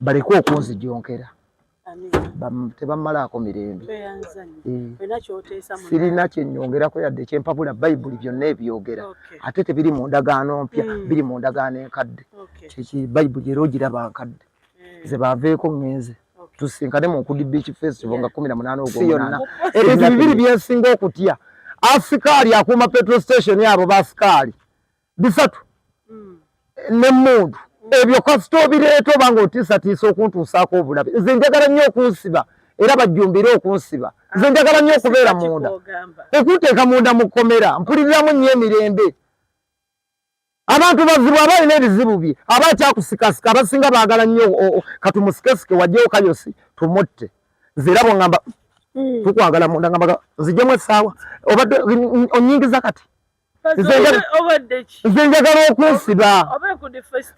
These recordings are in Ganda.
baleke okunzijonkera tebamumalaako mirembe sirina kyenyongerako yadde kyempabula bayibuli byonna ebyogera ate tebiri mu ndagaano mpya hmm. biri mu ndagaano enkadde kyeki bayibuli era ogiraba nkadde hmm. zebaveeko ngenze tusinkane mu nkudi beach festival nga kumi na munaana ogwona ebintu bibiri byensinga okutya asikaali akuuma petro station abo basikaali bisatu hmm. ne mundu ebyo kasita obireeta oba nga otiisatiisa okuntuusaako obulabe nze njagala nnyo okunsiba era bajjumbire okunsiba nze ah, njagala nnyo okubeera munda okunteeka munda mu kkomera mpuliriramu nnyo emirembe abantu bazibu aba alina ebizibu bye aba akyakusikasika abasinga baagala nnyo katumusikesike wajjewo kayosi tumutte nze era bwongamba hmm. tukwagala munda ngambaga nzijemu essaawa obadde onyingiza kati nze njagala okunsiba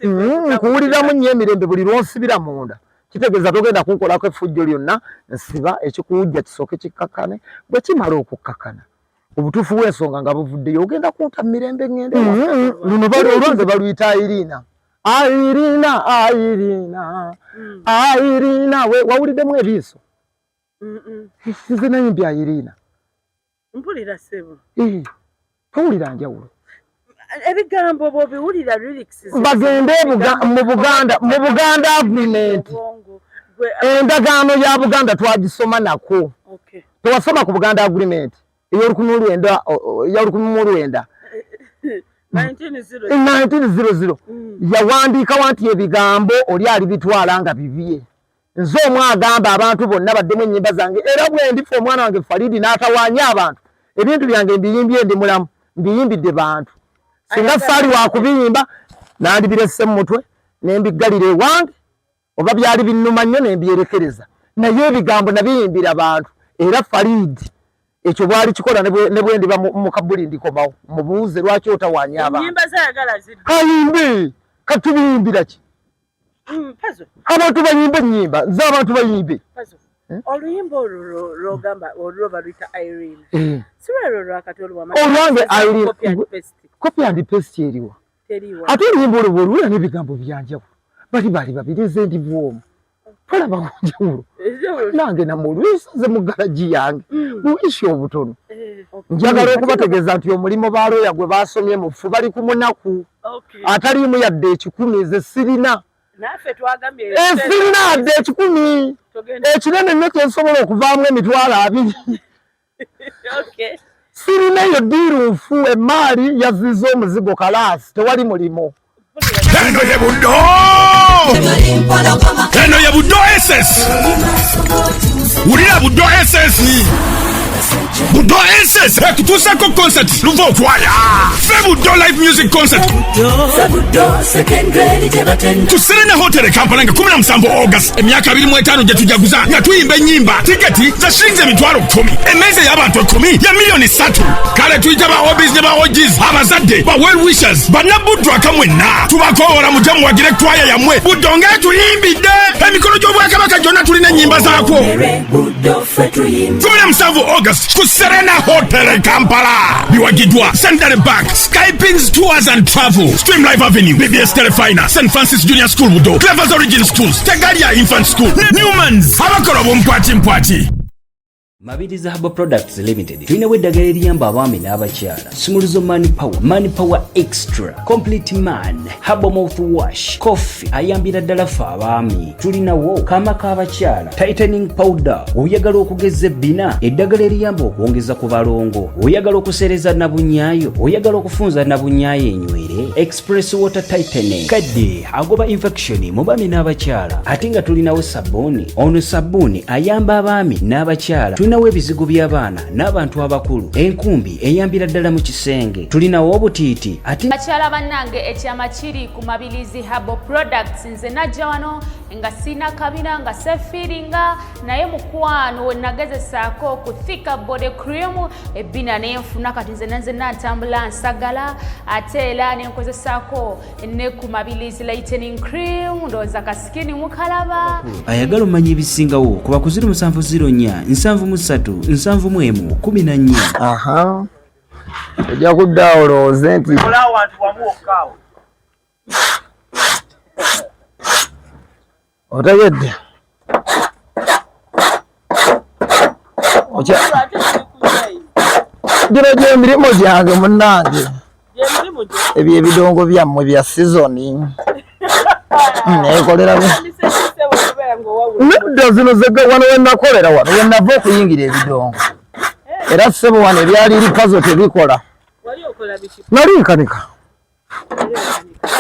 mm, nkuwuliramu nnyo emirembe buli lwonsibira munda kitegeeza togenda kunkolako effujjo lyonna nsiba ekikuwujja kisooke kikkakkane bwe kimala okukkakana obutuufu bw'ensonga nga buvuddeyo ogenda kunta mu mirembe ŋŋende mm-hmm. luno olwanze baluyita irina irina irina irina mm. wawuliddemu ebiiso nze nayimbya irina mpulira sebo eh, towulira njawulo ebigambo bwobiwulira bagende mu buganda mu buganda agreement endagaano ya buganda twagisoma nako tewasoma ku buganda agreement eyolukumi lwenda yolukumi mu lwenda 1900 yawandiikawa nti ebigambo oli alibitwala nga bibye nze omu agamba abantu bonna baddemu ennyimba zange era bwendifa omwana wange falidi n'atawaanya abantu ebintu byange mbiyimbye ndi mulamu mbiyimbidde bantu singa saali wakubiyimba nandibirese mu mutwe nembiggalira ewange oba byali binnuma nnyo nembyerekereza naye ebigambo nabiyimbira bantu era falidi ekyo bwali kikola ne bwendiba mu kabuli ndikomawo mubuuze lwaki otawaanya abantu katubiyimbirakyi Mm, abantu bayimba enyimba nze abantu bayimbe eh? oluyimba olwo lwogamba olwo baluyita irene eh. sirwero lwakati olwange copy and paste eriwa ate oluyimba olwo bwoluwera n'ebigambo byanjawulo bali bali babiri nze ndi bwomu tolaba kunjawulo nange namwe olwisanze mu galagi yange mm. buisi obutono eh, njagala okubategeeza nti omulimu ba looya gwe basomye mufu bali ku munaku ataliimu yadde ekikumi nze sirina esirina eh, yadde ekikumi ekinene nyo kyensobola okuvaamu emitwalo abiri sirina eyo diiru nfu emaali yaziza omuzigo kalaasi tewali mulimu eno ye buddo eno ye buddo ss wulira buddo ss budo ss ekutuusako concert luva okwaya fe budo live music concert ku serena hotel e kampala nga 17 august emyaka 25 gye tujaguza nga tuyimba ennyimba tiketi za shilingi emitwalo 1 emmeeza y'abantu 1 ya miliyoni 3 kale tuyita ba obis ne ba ogis abazadde ba well wishers bannabuddu akamwenna tubakoowola mujja muwagire ekwaya yammwe buddo ng'etuyimbidde emikolo gy'obwakabaka gyonna tulina ennyimba zaakwo cumi na musanvu august ku serena hotel e kampala biwagiddwa centenary bank skypings tours and travel stream life avenue bbs telefina st francis junior school budo clevers origin schools tegalia infant school newmans abakola obwompwati mpwati mabiriza habo products limited tulinawo eddagala eriyamba abaami n'abakyala sumuluzo man power man power extra complete man habo mouth wash coffee ayambira ddala fe abaami tulinawo kaama k'abakyala tightening powder oyagala okugeza ebbina eddagala eriyamba okwongeza ku balongo oyagala okusereza nabunyaayo oyagala okufunza nabunyaayo enywere express water tightening kadde agoba infection mu baami n'abakyala ate nga tulinawo sabbuuni ono sabbuuni ayamba abaami n'abakyala tulinawo ebizigo by'abaana n'abantu abakulu enkumbi eyambira ddala mu kisenge tulinawo obutiiti ate bakyala bannange ekyama kiri ku mabilizi habo products nze najja wano nga sirina kabina nga sefiiringa naye mukwano wenagezesaako ku thika body cream ebbina nenfuna kati nze nenzenna ntambula nsagala ate era nenkozesaako ne ku mabilis lightening cream ndowooza kasikini mukalaba ayagala omanya ebisingawo kuba ku 0704 731 14 ojja kudda olowooze nti otegedde gino gyemirimu gyange munange ebyo ebidongo byammwe bya sizoni nekolera nedda zino zega wano wenakolera wano wenava okuyingira ebidongo eh. era sebo wano ebyali likazo tebikola nali nkanika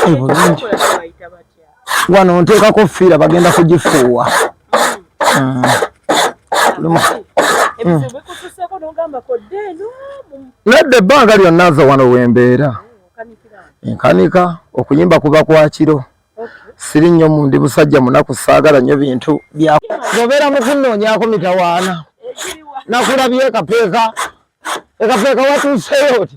bulungi wano nteekako fiira bagenda kugifuuwa hmm. hmm. nedda ebbanga lyonna nze wano wembeera hmm, nkanika okuyimba kuba kwakiro siri nnyo mundi musajja munaku saagala nnyo bintu byaobeera mukunoonyako mitawaana nakulabye ekapeeka ekapeeka watuuseyo ti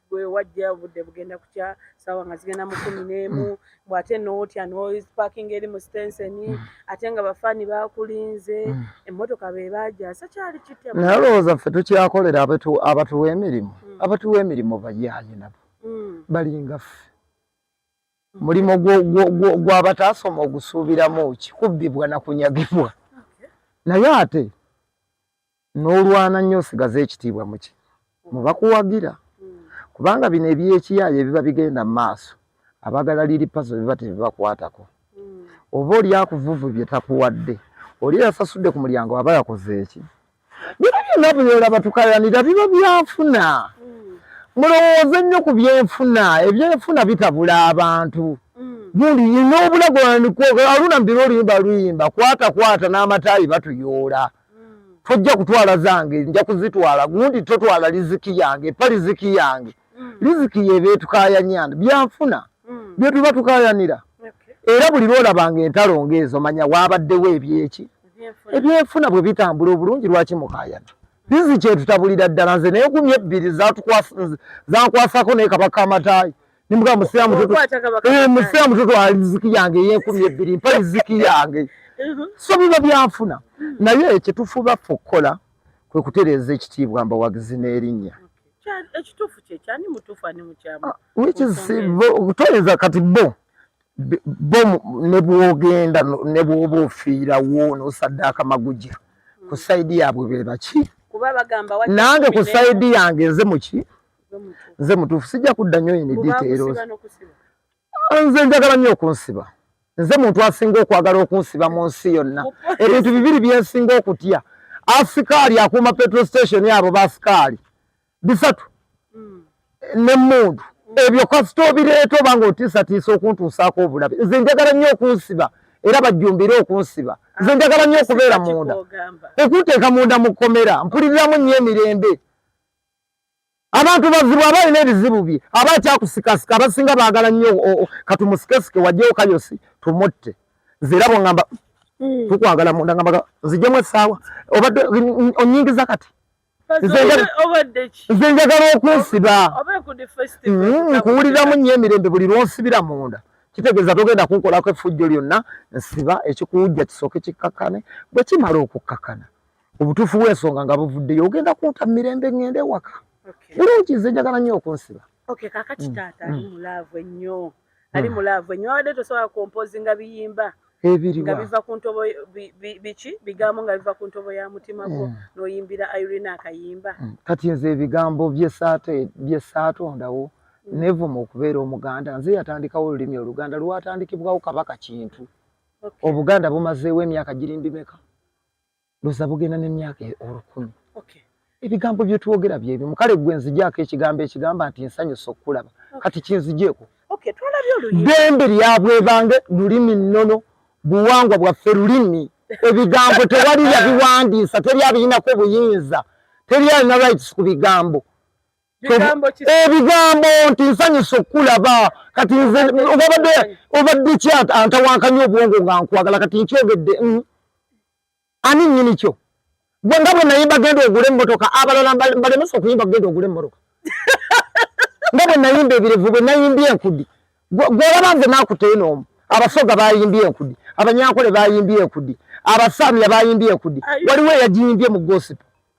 gwe wajja obudde bugenda kukya saawa nga zigenda mu kumi n'emu mm. bwe ate nootya nopaking eri mu stenseni mm. ate nga bafaani bakulinze mm. emmotoka be bajasa kyali kitya naye olowooza ffe tukyakolera abatuwa emirimu abatuwa emirimu bayaaye nabo balinga ffe mulimu gwabataasoma ogusuubiramu ki kubbibwa na kunyagibwa naye ate n'olwana nnyo osigaze ekitiibwa muki mubakuwagira kubanga bino ebyekiyaayo ebiba bigenda mu maaso abagala liri paso biba tebibakwatako oba oli akuvuvu bye takuwadde oli yasasudde ku mulyango aba yakoze eki bino byonna byola batukayanira biba byafuna mulowooze nnyo ku byenfuna ebyenfuna bitabula abantu gundi yina obulago aluna mbira oluyimba luyimba kwata kwata n'amataayi batuyoola mm. mm. tojja kutwala zange nja kuzitwala gundi totwala liziki yange pa liziki yange mm. liziki yeba etukayanyana byanfuna mm. byetuba tukayanira okay. era buli lwolabanga entalo ngaezo manya wabaddewo ebyeki ebyenfuna bwe bitambula obulungi lwaki mukayana liziki etutabulira ddala nze naye gumi ebbiri zankwasako naye kabaka amataayi Nimuka musea mtoto. Eh, musea mtoto wa riziki yange ye 12 mpa riziki yange. Mhm. So biba byanfuna. Mhm. Na ye ekitufuba fokola kwe kutereza ekitibwa mba wagizine erinya. Ekitufu kye kyani mutufu ani mukyama. Ah, which is kutoyeza kati bo. Bo ne bwogenda ne bwobo fiira wo no sadaka magujja. Mhm. Ku side yabwe bebaki. Kuba bagamba wati. Nange ku side yange nze muki. nze mutuufu sijja kudda nnyo yini details ah, nze njagala nnyo okunsiba nze muntu asinga okwagala okunsiba mu nsi yonna ebintu bibiri byensinga okutya asikaali akuuma petrol station abo basikaali bisatu hmm. ne mundu ebyo kasita obireeta oba nga otiisatiisa okuntuusaako obulabe nze njagala nnyo okunsiba era bajjumbire okunsiba nze ah, njagala nnyo okubeera munda okunteeka munda mu kkomera mpuliriramu nnyo emirembe abantu bazibu abalina ebizibu bye aba akyakusikasika abasinga baagala nnyo katumusikesike wajjewo kayosi tumutte nze era bwengamba hmm. tukwagala munda ngambaga nzijemu essaawa obadde onyingiza kati nze njagala okunsiba hmm, nkuwuliramu nnyo emirembe buli lwonsibira munda kitegeeza togenda kunkolako effujjo lyonna nsiba ekikuwujja kisooke kikkakane bwe kimala okukkakana obutuufu bw'ensonga nga buvuddeyo ogenda kunta mu mirembe ŋŋenda ewaka bulungi nze njagala nnyo okunsiba okay kakati mm. taata ali mm. mu laavu ennyo mm. ali mu laavu ennyo wabadde tosobola kompozi nga biyimba nga biva ku ntobo biki bigambo nga biva ku ntobo ya mutima gwo n'oyimbira irina akayimba kati nze ebigambo byesaatondawo nevuma okubeera omuganda nze yatandikawo olulimi oluganda lwatandikibwawo kabaka kintu obuganda bumazeewo emyaka girimbimeka loza bugenda ne myaka e olukumi okay ebigambo bye twogera bye bimu kale gwe nzijaako ekigambo ekigamba nti nsanyo sokulaba okay. kati kinzijeeko okay twalabye olulimi dembe lyabwe bange lulimi nono buwangwa bwaffe lulimi ebigambo tewali yabiwandiisa teri abiyinako buyinza teri alina rights ku bigambo ebigambo eh, nti nsanyusa okukulaba kati nze obabadde obadde ki antawankanya obwongo nga nkwagala kati nkyogedde mm. ani nyini kyo gwe nga bwe nayimba genda ogule emmotoka abalala mbalemesa okuyimba genda ogule emmotoka nga bwe nayimba ebirevu bwe nayimbye enkudi gwolaba nze nakuteyo noomu abasoga bayimbye enkudi abanyankole bayimbye enkudi abasaamya bayimbye enkudi waliwo eyagiyimbye mu gosipo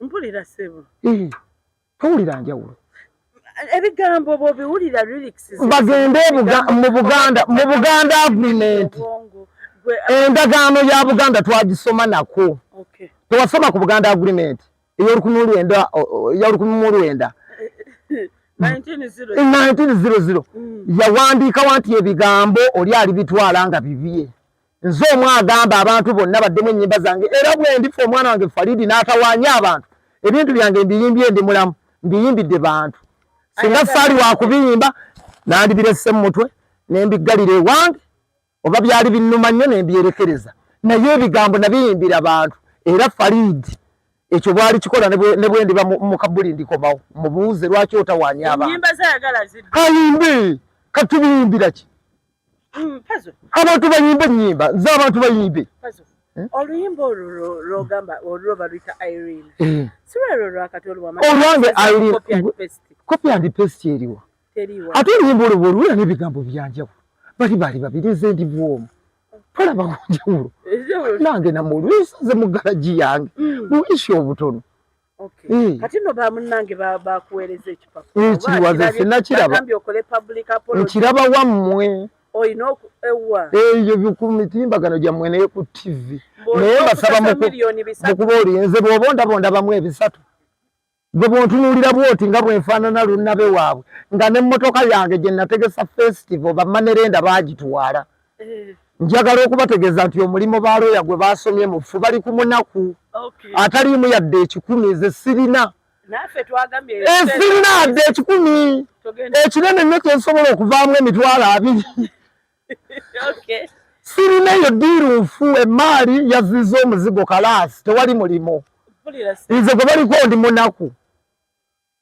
mpulira sebo eh, towulira njawulo ebigambo bwobiwulira lyrics bagende mu buganda mu buganda agreement endagaano ya buganda twagisoma nako tewasoma ku buganda agreement eyolukumi lwenda yolukumi mu lwenda 1900 yawandiikawa nti ebigambo oli alibitwala nga bibye nze omu agamba abantu bonna baddemu ennyimba zange era bwendifa omwana wange falidi n'atawaanya abantu ebintu byange mbiyimbye ndi mulamu mbiyimbidde bantu singa saali wakubiyimba nandibirese mu mutwe nembiggalira ewange oba byali binnuma nnyo nembyerekereza naye ebigambo nabiyimbira bantu era falidi ekyo bwali kikola ne bwendiba mu kabuli ndikomawo mubuuze lwaki otawaanya abantu kayimbi katubiyimbira ki Mm, abantu bayimba enyimba nze abantu bayimbe eh? oluyimba olwo lwogamba olwo baluyita irene eh. sirwero lwakati olwange copy and paste eriwa ate oluyimba olwo bwoluwera n'ebigambo byanjawo bali bali babiri nze ndi bwomu tolaba kunjawulo nange namwe oluyisa nze mu galagi yange mm. luyisi obutono Okay. Mm. Kati no bamunange bakuwereza ekipapula. Mm, kiriwaza sinakiraba. Nkiraba wammwe. Olina oku ewa. Eyo eh, ku mitimbagano gyammwe naye ku TV. Naye basaba mukuba olinze bw'oba ondabonda bamu ebisatu. Gwe bw'ontunuulira bw'oti nga bwe nfaanana lunnabe waabwe nga n'emmotoka yange gye nategesa festival bamanerenda baagitwala. njagala okubategeeza nti omulimu ba looya gwe baasomye mufu bali ku munaku ataliimu yadde ekikumi ze sirina esirina adde ekikumi ekinene nnyo kyensobola okuvaamu emitwalo abiri sirina eyo diiru nfu emaali yaziza omuzigo kalaasi tewali mulimu nze gwe baliko ndi munaku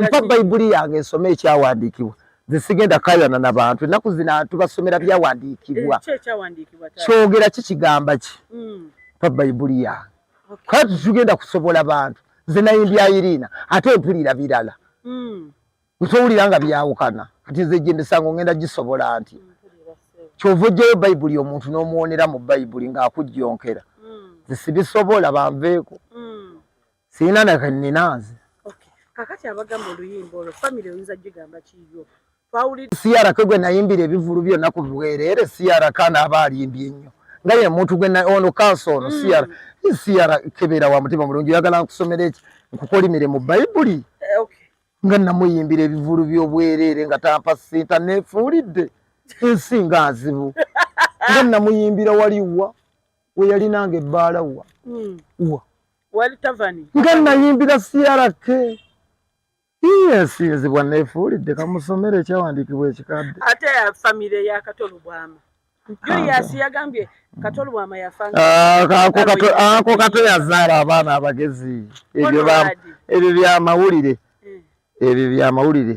mpa bayibuli yange nsome ekyawandiikibwa nze sigenda kayana na bantu ennaku zina tubasomera byawandiikibwa eh, kyogera ki kigamba ki hmm. mpa bayibuli yange kale titugenda kusobola bantu nze nayimbyairiina ate mpulira birala hmm. ntowulira nga byawukana kati nze gyemisango ngenda gisobola nti hmm. kyova ojjayo bayibuli omuntu n'omuwonera mu bayibuli ng'akujjonkera hmm. zisibisobola banveeko hmm. sirina nakanina nze kakati abagamba oluyimba olwo famiry oyinza gigamba kiyo siyaraka gwe nayimbira ebivulu byonna ku bwereere siyaraka naaba alimbye nnyo nga ye muntu gwe ono kansa ono hmm. siyara siyara kebeera wa mutima mulungi oyagala nkusomera eki nkukolimire mu bayibuli eh, nga namuyimbira ebivulu by'obwereere nga tampa sinta nefuulidde ensi nga nzibu nga namuyimbira waliwa we yali nange ebbaala wa hmm. wa nga nayimbira CRK yesinzibwa nefuulidde kamusomero ekyawandiikibwa ekikadde ate famire ya katolo bwama julius yagambye katolo bwama yafaako kato yazaala abaana abagezi ebyo byamawulire eh. ebyo byamawulire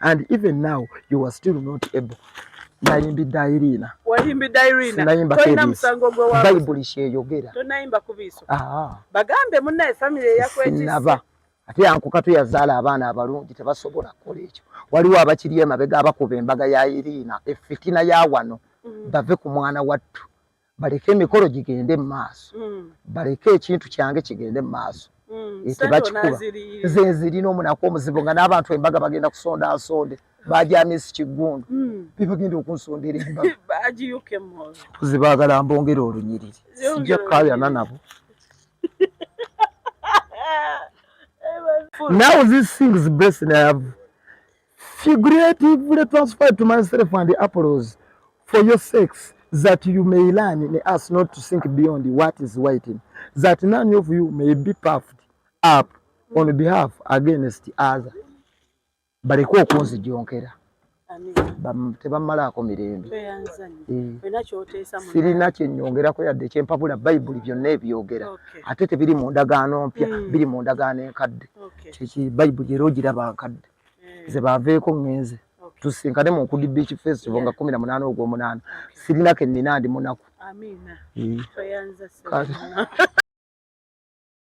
and even now you are still not able nayimbidde irina wayimbidde irina nayimba tolina musango gwe wa bayibuli kyeyogera tonayimba ku biiso ah. bagambe munnaye famire eyakwekisaba ate yankuka tuyazaala abaana abalungi tebasobola kukola ekyo waliwo abakiri emabega abakuba embaga ya irina efitina ya wano mm. bave ku mwana wattu baleke emikolo gigende mu maaso mm. baleke ekintu kyange kigende mu maaso mm. eh, tebakikuba nze nzirina omunaku omuzibu nga n'abantu embaga bagenda kusonda nsonde bajamisi kiggundu mm. bebagenda okunsondera embaga mpozi baagala mbongere olunyiriri sijja kukayana nabo now this things blessing i have figuratively transferred to myself and the apples for your sex that you may learn in us not to think beyond what is waiting that none of you may be puffed up on behalf against other baleke okunzijonkera tebamalaako mirembe sirina eh. kyenyongerako yadde kyempabula bayibuli byonna ebyogera ate tebiri mu ndagaano mpya hmm. biri mu ndagaano enkadde bayibuli era ogiraba nkadde mm. ze baveeko ŋŋenze tusinkane mu nkudi beach festival nga kumi na munaana ogw'omunaana sirina ke nnina ndi munaku